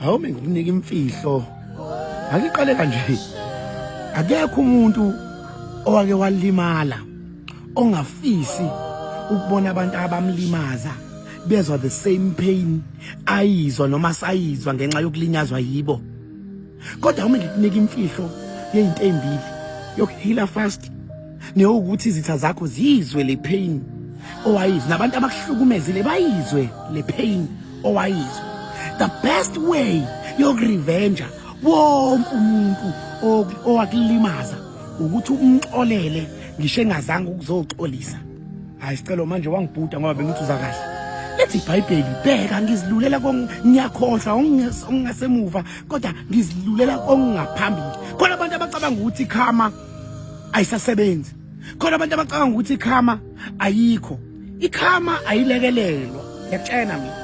hawu ngikunika imfihlo ngiqale kanje akekho umuntu owake walimala ongafisi ukubona abantu abamlimaza bezwa the same pain ayizwa noma sayizwa ngenxa yokulinyazwa yibo kodwa uma ngikunika imfihlo yezinto ezimbili yokuhila fast newukuthi izitha zakho ziyizwe le pain owayizwe nabantu abakuhlukumezile bayizwe le pain owayizwe the best way yokurevenja wonke umuntu owakulimaza ukuthi umxolele ngisho engazange ukuzoxolisa hayi sicelo manje wangibhuda ngoba bengithi uza kahle lethi ibhayibheli bheka ngizilulela ngiyakhohlwa ongingasemuva kodwa ngizilulela ongingaphambili khona abantu abacabanga ukuthi khama ayisasebenzi khona abantu abacabanga ukuthi ikhama ayikho ikhama ayilekelelwa ngiyakutshena mina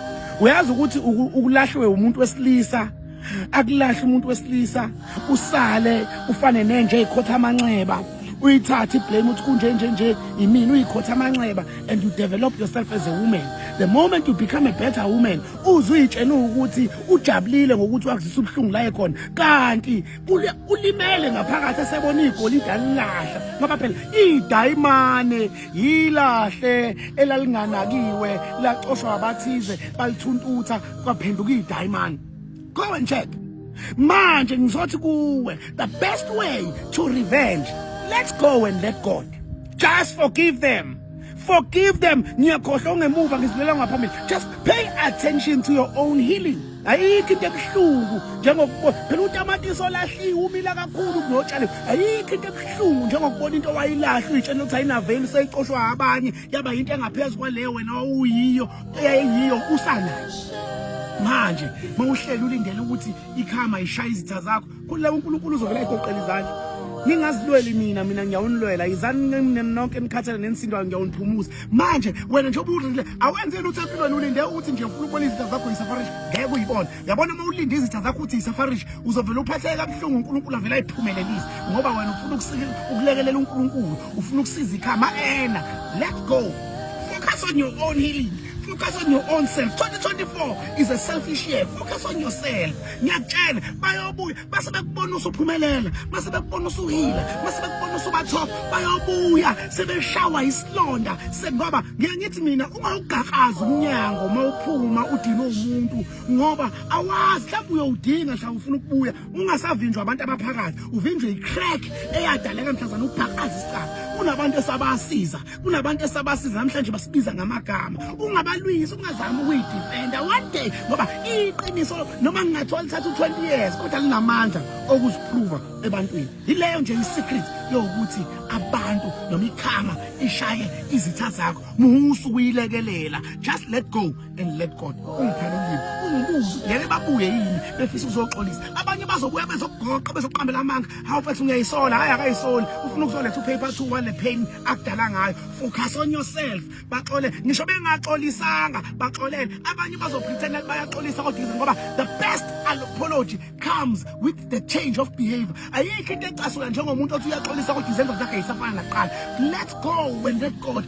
uyazi ukuthi ukulahlwe umuntu wesilisa akulahle umuntu wesilisa usale ufane nenje ikhotha amanxeba uyithathe iblame uthi kunje nje nje yimina uyikhotha amanxeba and you develop yourself as a woman the moment you become a better woman uzuyitshena ukuthi ujabulile ngokuthi wakuzisa ubuhlungu la ekhona kanti ulimele ngaphakathi esebona igolide alilahla ngoba phela idayimane yilahle elalinganakiwe lacoshwa abathize balithuntuutha kwaphenduka idayimane go and check manje ngizothi kuwe the best way to revenge let's go and let god just forgive them forgive them ngiyakhohlwa ongemuva ngizilela ngaphambili just pay attention to your own healing ayikho into ebuhlungu njengokubona phela utamatisi olahliwe umila kakhulu kunotshaliwe ayikho into ebuhlungu njengokubona into owayilahla uyitshela ukuthi ayinaveli seyicoshwa abanye yaba yinto engaphezu kwaleyo wena owuyiyo eyayiyiyo usanayo manje mawuhlele ulindele ukuthi ikhama ishaya izitha zakho Khulula uNkulunkulu uzovela egoqela izandla. Ningazilweli mina mina ngiyawunilwela izani nina nonke nikhathele nensindayo ngiyawuniphumuza. Manje wena nje ubudlile awenze lutho empilweni ulinde ukuthi nje ufuna ukubona izitha zakho yisafarish ngeke uyibone. Yabona uma ulinde izitha zakho uthi yisafarish uzovela uphatheke kabuhlungu uNkulunkulu avela ayiphumelelise ngoba wena ufuna ukusika ukulekelela uNkulunkulu ufuna ukusiza ikhama ena. Let's go. Focus on your own healing. Focus on your own self. 2024 is a selfish year. Focus on yourself. ngiyakutshela bayobuya base bekubona usuphumelela base bekubona usuhila base bekubona usubatop bayobuya sebeshawa isilonda sengoba ngiye ngithi mina uma ugaqaza umnyango uma uphuma udinwe umuntu ngoba awazi mhlawumbe uyowudinga mhlawumbe ufuna ukubuya ungasavinjwa abantu abaphakathi uvinjwe i-crack eyadaleka mhlazana ubhaqaza isicaba kunabantu esabasiza kunabantu esabasiza namhlanje basibiza ngamagama ungabalwisi ungazami ukuyidefenda one day ngoba iqiniso noma ngingathola lithatha u-20 years kodwa linamandla okuziphruva ebantwini yileyo nje i-secret yokuthi abantu noma ikhama ishaye izitha zakho musa ukuyilekelela just let go and let God ungiphela ulimi ungibuze ngeke babuye yini befisa ukuzoxolisa abanye bazobuya bezogoqa bezoqambela amanga hawu mfethu ngiyayisola hayi akayisoli ufuna ukuzoletha upaper two wale pain akudala ngayo focus on yourself baxole ngisho bengaxolisanga baxolele abanye bazopretenda ukuthi bayaxolisa kodwa izinto ngoba the best apology comes with the change of behavior ayikho into ecasula njengomuntu othi uyaxolisa kodwa izenzo zakhe yisafana nakuqala let go and let God